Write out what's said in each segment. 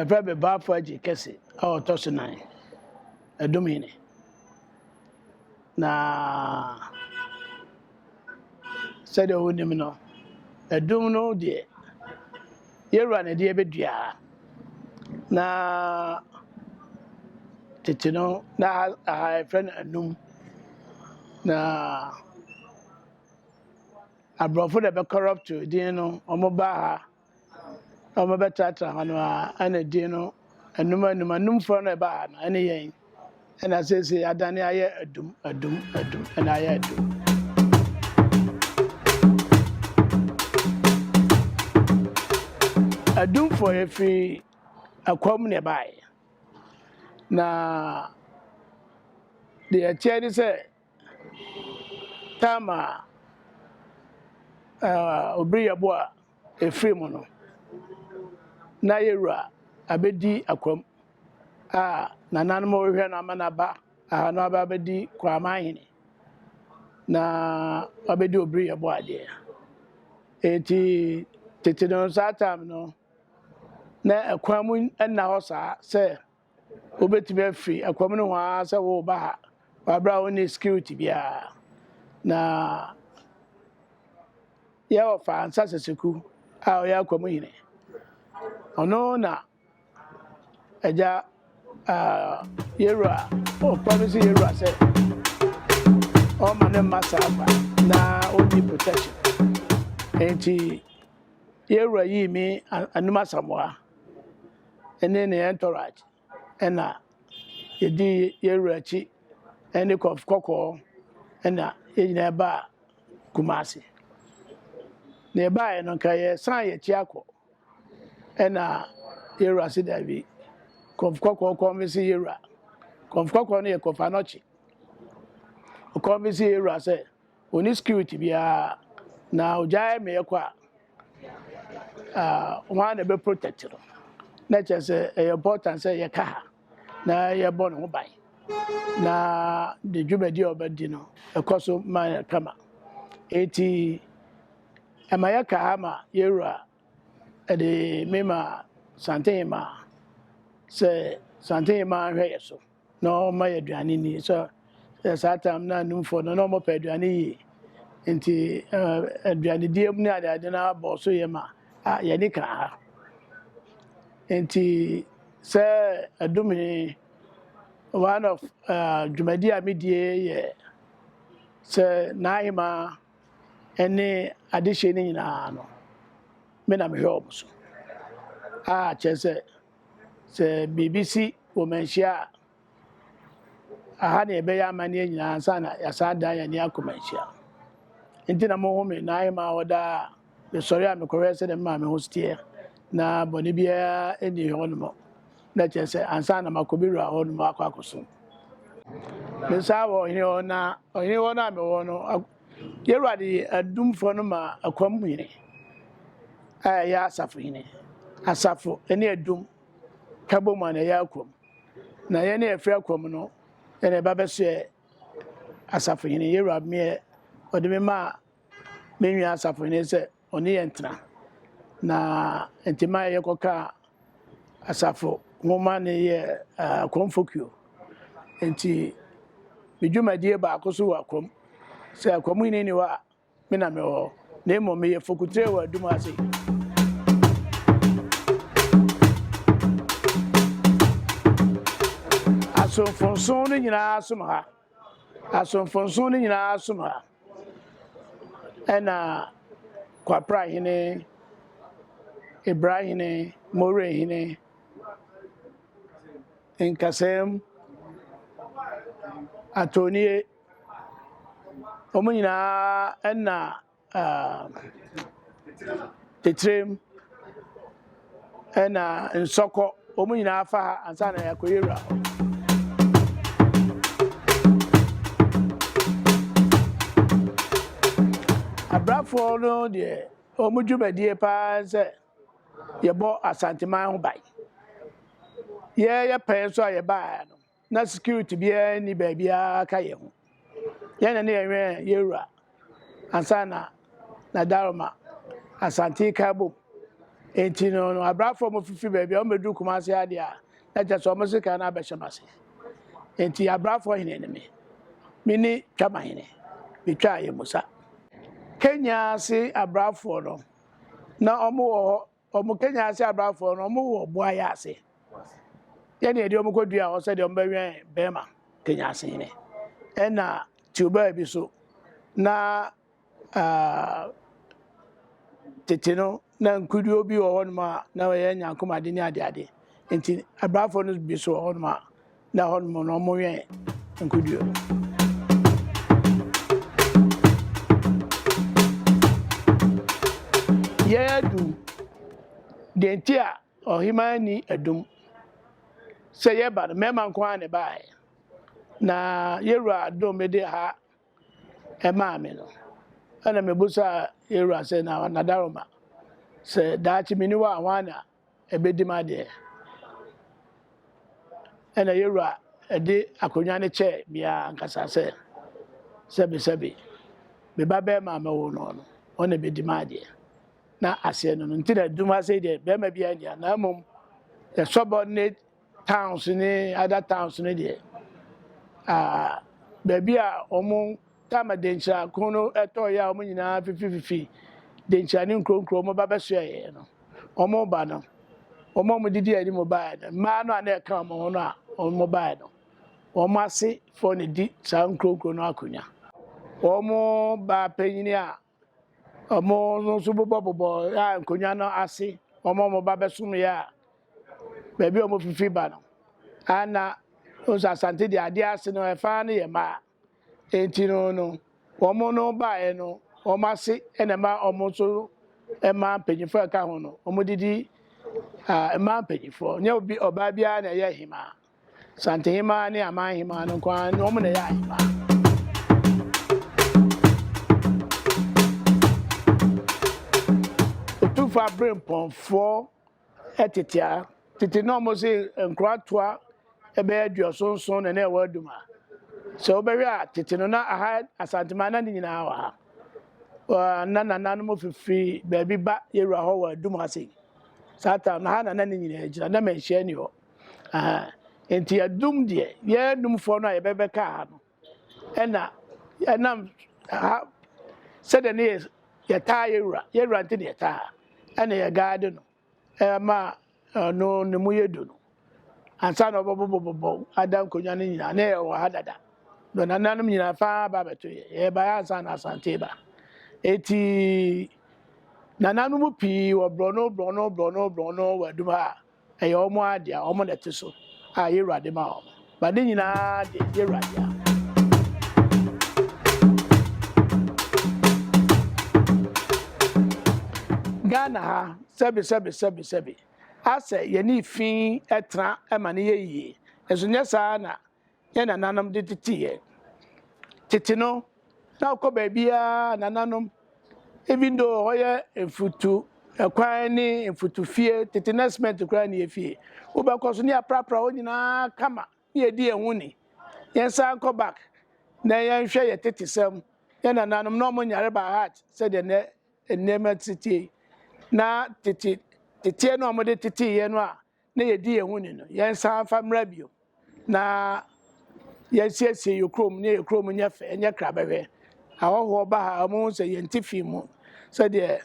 Ɛfɛ bɛ baafo agye kɛse a ɔtɔ so nan, ɛdom hene. Na sɛdeɛ wonim no, ɛdom no deɛ yɛwura na ɛdeɛ bɛdua. Na tete no na aha aha ɛfrɛ no anum. Na aborɔfo na ɛbɛkɔrɔpto din no, wɔn ba ha. a wɔbɛtratra hɔ no ara, ɛna din no anum anum, anumfoɔ no a ɛbaa ha no, ɛne yɛn, ɛna seesei adane ayɛ adum, adum, adum, ɛna ayɛ adum. Adumfoɔ yɛ firi akwam na ɛbaeɛ, na deɛ ɛteɛ ne sɛ, Tamar a obiri yɛ bo a efiri mu no, na yɛ wura abɛdi akwam a nananom rehwɛ no ama n'aba a na waba abɛdi Kraman hene na wabɛdi obiri yɛ bo adeɛ. Eti tete no saa tam no, na ɛkwan mu nna hɔ saa sɛ Wobɛtumi afiri ɛkɔm no ho ara sɛ woreba ha wɔ aberɛ a wonni security biara. Na yɛ ɔfa ansa sɛsɛku a ɔyɛ akɔm hene ɔno na agya yɛwura ɔpa no sɛ yɛwura sɛ ɔma ne mma saa fa na ɔnni protection nti yɛwura yii me anum asamoa ne ne entourage na yɛdii yɛn wura akyi ne kɔf kɔkɔɔ na yɛn nyinaa baa Kumasi. Na yɛbaeɛ no nka yɛsan yɛn akyi akɔ na yɛn wura se daabi. Kɔf kɔkɔɔ kɔnvinsi yɛn wura, kɔf kɔkɔɔ no yɛ kɔf anɔkye, ɔkɔnvinsi yɛn wura sɛ, Onni security biara na ogyae meyɛ kɔ a, ah, hwan na ɛbɛ protect no? Na kyerɛ sɛ ɛyɛ important sɛ yɛka ha na yɛbɔ ne ho ban na de dwumadi a ɔbɛdi no ɛkɔ so ma kama. Eti ɛma yɛka ha ma yɛwura ɛde mema Santehema sɛ Santehema nhwɛ yɛ so. na ɔma yɛ aduane ni so yɛ saa tam na anumfoɔ no na ɔmɔpɛ aduane yie nti aduanedie mu ne adeade no abɔ so yɛ ma a yɛne ka ha nti sɛ adum he one of dwumadi a medie yɛ sɛ n'ahema ne adehyeɛ no nyinaa no me na mehwɛ ɔmo so a kyerɛ sɛ Sɛ biribi si wɔ manhyia a, aha na yɛbɛyɛ amanneɛ nyinaa ansa na yɛasan adan yɛn ani akɔ manhyia. Enti na mohome na ayɛ maa hɔ daa. Mesɔre a mekɔhwɛ sɛdeɛ me maame ho teɛ, na bɔne biara nni hɔnom. Na kyerɛ sɛ ansa na makɔ me wura hɔnom akɔ akɔsom. Mesan wɔ ɔhene hɔ, na ɔhene hɔ no a mewɔ no, Y'Awurade yɛ adomfoɔ no ma akoa mu hene a ɛyɛ asafo hene, asafo ne adum ka bɔ mu a na ɛyɛ akoa mu, na yɛn a yɛfiri akoa mu no yɛn na ɛba bɛsoɛ asafo hene. Y'Awurade meɛ ɔde me maa me nwea asafo hene sɛ ɔne yɛn tena. Na nti ma yɛkɔkaa asafo nwoma ne yɛɛ akɔmfokuo. Nti me dwumadie baako so wɔ akwam sɛ akwam hene nni hɔ a me na mewɔ hɔ na mmom meyɛ fokutire wɔ adum ase. asomfonson no nyinaa som ha. Asomfo nson no nyinaa som ha. Ɛnna Kwapra hene, Ebira hene, Moreh hene, Nkasɛɛm, Atɔnnie, wɔn nyinaa ɛnna titrem ɛna nsɔkɔ wɔn nyinaa fa ha ansa na yɛakɔyɛ wura hɔ. abrafoɔ no deɛ wɔn dwumadie paa sɛ yɛbɔ asanteman ho ban yɛyɛ pɛn nso a yɛbaa no Na security biara nni baabiara ka yɛn ho. Yɛn na ne yɛwɛn yɛn wura ansa na na Daroma Asante ka bom. Enti no, abrafo a wɔfifiri baabi a wɔbɛduru Kumase ha deɛ a, na kyerɛ sɛ wɔn sekan no abɛhyɛ m'ase. Enti abrafo hene ne me. Me ne Twamahene betwaa yɛn musa. Kenya ase abrafoɔ no, na wɔwɔ hɔ Wɔn Kenya ase abrafo no wɔn wɔ boa yɛ ase yɛ ne ɛde wɔn kɔ dua hɔ sɛ deɛ wɔn bɛ wɛn bɛrima Kenya ase hene ɛna tiobaa bi so na uh, tete no na nkuduo bi wɔ hɔ nom a na wɔyɛ nyankomade ne adeade nti abrafo no bi so wɔ hɔ nom a na hɔ nom no wɔwɛn nkoduo no. Yɛn adum, deɛ nti a ɔhemaa ni adum sɛ yɛba no mmarima nko ara na ɛbaeɛ na yɛwura adom mede ha ɛmaa me no ɛna mebusa yɛwura sɛ na nadaroma sɛ daakye meni hɔ a hwan na ɛbɛdi ma deɛ, ɛna yɛn wura ɛde akonnwa no kyɛɛ meaa ankasa sɛ, Sɛbe sɛbe, me ba bɛɛma a mɛwo no no, ɔno na ɛbɛdi ma deɛ. Na aseɛ no no nti na ɛduru ha sei deɛ, bɛɛma biara nni ha, na mmom the subordinate Towns ne other towns no deɛ ah baabi a wɔn time a Denkyira ko no ɛtɔɔ yɛ a wɔn nyinaa fifififi Denkyira ne nkuro nkuro wɔn ba bɛsoɛ yɛ no wɔn ba no wɔn a wɔn didi anim baeɛ no mmaa no a na ɛka wɔn ho no a wɔn baeɛ no wɔn ase fɔ na di saa nkuro nkuro no akonya wɔn baa panyin a Ɔmo no nso bobɔ bobɔ a nkonwa no ase ɔmo ɔmo ba bɛsom yɛ a baabi a ɔmo fifi ba no ana nso asante deɛ adeɛ ase no ɛfa no yɛ maa enti no no ɔmo no baeɛ no ɔmo ase ɛna ɛma ɔmo nso ɛma mpanyinfoɔ ɛka ho no ɔmo didi a ɛma mpanyinfoɔ nyɛ obi ɔbaa biara na ɛyɛ hemaa. Santehemaa ne Aman Hemaa no nko ara wɔn na ɛyɛ ahemaa. Otumfoɔ Aberempɔnfoɔ tete a tete na wɔn se nkoratoa ɛbɛyɛ aduɔso nson na na ɛwɔ adum a sɛ wobɛhwɛ a tete no na aha Asantemaa na ne nyinaa wɔ ha na nananom fifiri baabi ba yɛwura hɔ wɔ adum ase saa tam na ha na na ne nyinaa gyina na manhyia ni hɔ. Nti yɛdum deɛ yɛn numfoɔ no a yɛbɛbɛka ha no ɛna ɛnam ha sɛdeɛ ne yɛ yɛtaa yɛwura yɛwura nti ne yɛtaa ha ɛna yɛ gaade no ɛma no ne mu yɛ du no ansa na ɔbɛbobɔbobɔ ada nkonnwa no nyinaa ne yɛ wɔ ha dada na nananom nyinaa faa ba bɛto yɛ yɛ ba yɛ ansa na asante ba eti nananom pii wɔ borɔno borɔno borɔno borɔno wɔ adum ha. ɛyɛ wɔn ara dea, wɔn na ɛte so a y'Awurade ma wɔn. Ba ne nyinaa de y'Awurade a. Ghana ha, sɛbi sɛbi sɛbi sɛbi, asɛ yɛne fi ɛtra ɛma ne yɛ yie, nso nyɛ saa na yɛn nananom de tete yɛn. Tete no, na wokɔ baabiara nananom, even though hɔ yɛ mfutu ɛkwan ne mfutu fie, tete na cement koraa ne efie. Wobɛkɔ so ne aprapra hɔ nyinaa kama ne yɛdi yɛn ho ni. Yɛn san nkɔ back na yɛnhwɛ yɛ tete sɛm. Yɛn nananom na wɔn nyare by heart sɛdeɛ nɛ nneɛma tetie. Na tete teteɛ no a wɔde tete yɛn no a na yɛdi yɛn ho ni no, yɛnsan mfa mmra bio na yɛnsiesie yɛn kurom ne yɛn kurom nyɛ fɛ, nyɛ kra bɛhwɛ. Ahɔhoɔ ba ha a, wɔhu sɛ yɛn ti fi mu sɛdeɛ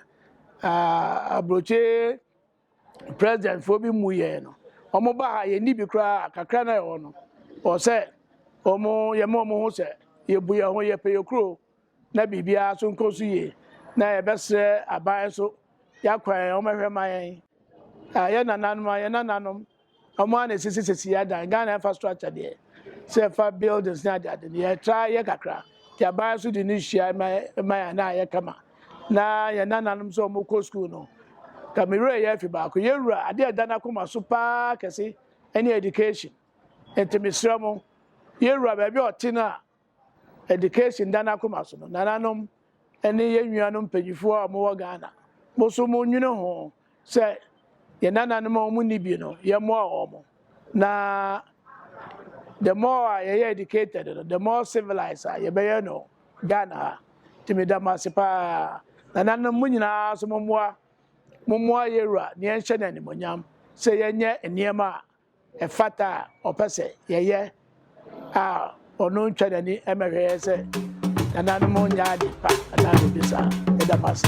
aburokyire presidentfoɔ bi mu yɛn no. Wɔn ba ha yɛnni bi koraa kakra na ɛwɔ no. Wɔ sɛ wɔn yɛma wɔn ho sɛ yɛbu yɛn ho, yɛpɛ yɛn kuro. na biribiara nso nkɔ so yie, na yɛbɛsrɛ aban nso yɛakwan a wɔmmɛhwɛ mma yɛn. Ah, yɛn nananom a, yɛn nananom, wɔn ara na ɛsisi sisi adan. Ghana infrastructure deɛ, sɛ ɛfa buildings ne adeade no, yɛtra yɛ kakra, nti aban nso de no hyia ma ma yɛn na ayɛ kama. Na yɛn nananom sɛ wɔkɔ sukuu no, ka me werɛ yɛ afi baako. Yɛwura, adeɛ a ɛda n'akoma so paa kɛse ne education. Nti mesrɛ mo, yɛwura baabi a ɔte no a, Education da n'akoma so no, nananom ne yɛn nuanom mpanyinfoɔ a wɔwɔ Ghana, mo so mo nwene ho sɛ yɛn nananom a wɔn nni bi no, yɛn mmoa wɔn. Na the more a yɛyɛ educated no, the more civilized a yɛbɛyɛ no Ghana ha. Nti meda mo ase paa. Nananom mo nyinaa so mo mmoa, mo mmoa yɛn wura na yɛnhyɛ no animonyam sɛ yɛnyɛ nneɛma a ɛfata a ɔpɛ sɛ yɛyɛ a ɔno ntwa n'ani mmɛhwɛ yɛ sɛ nananom nyɛ ade pa anaa biribi saa. Ɛda mo ase.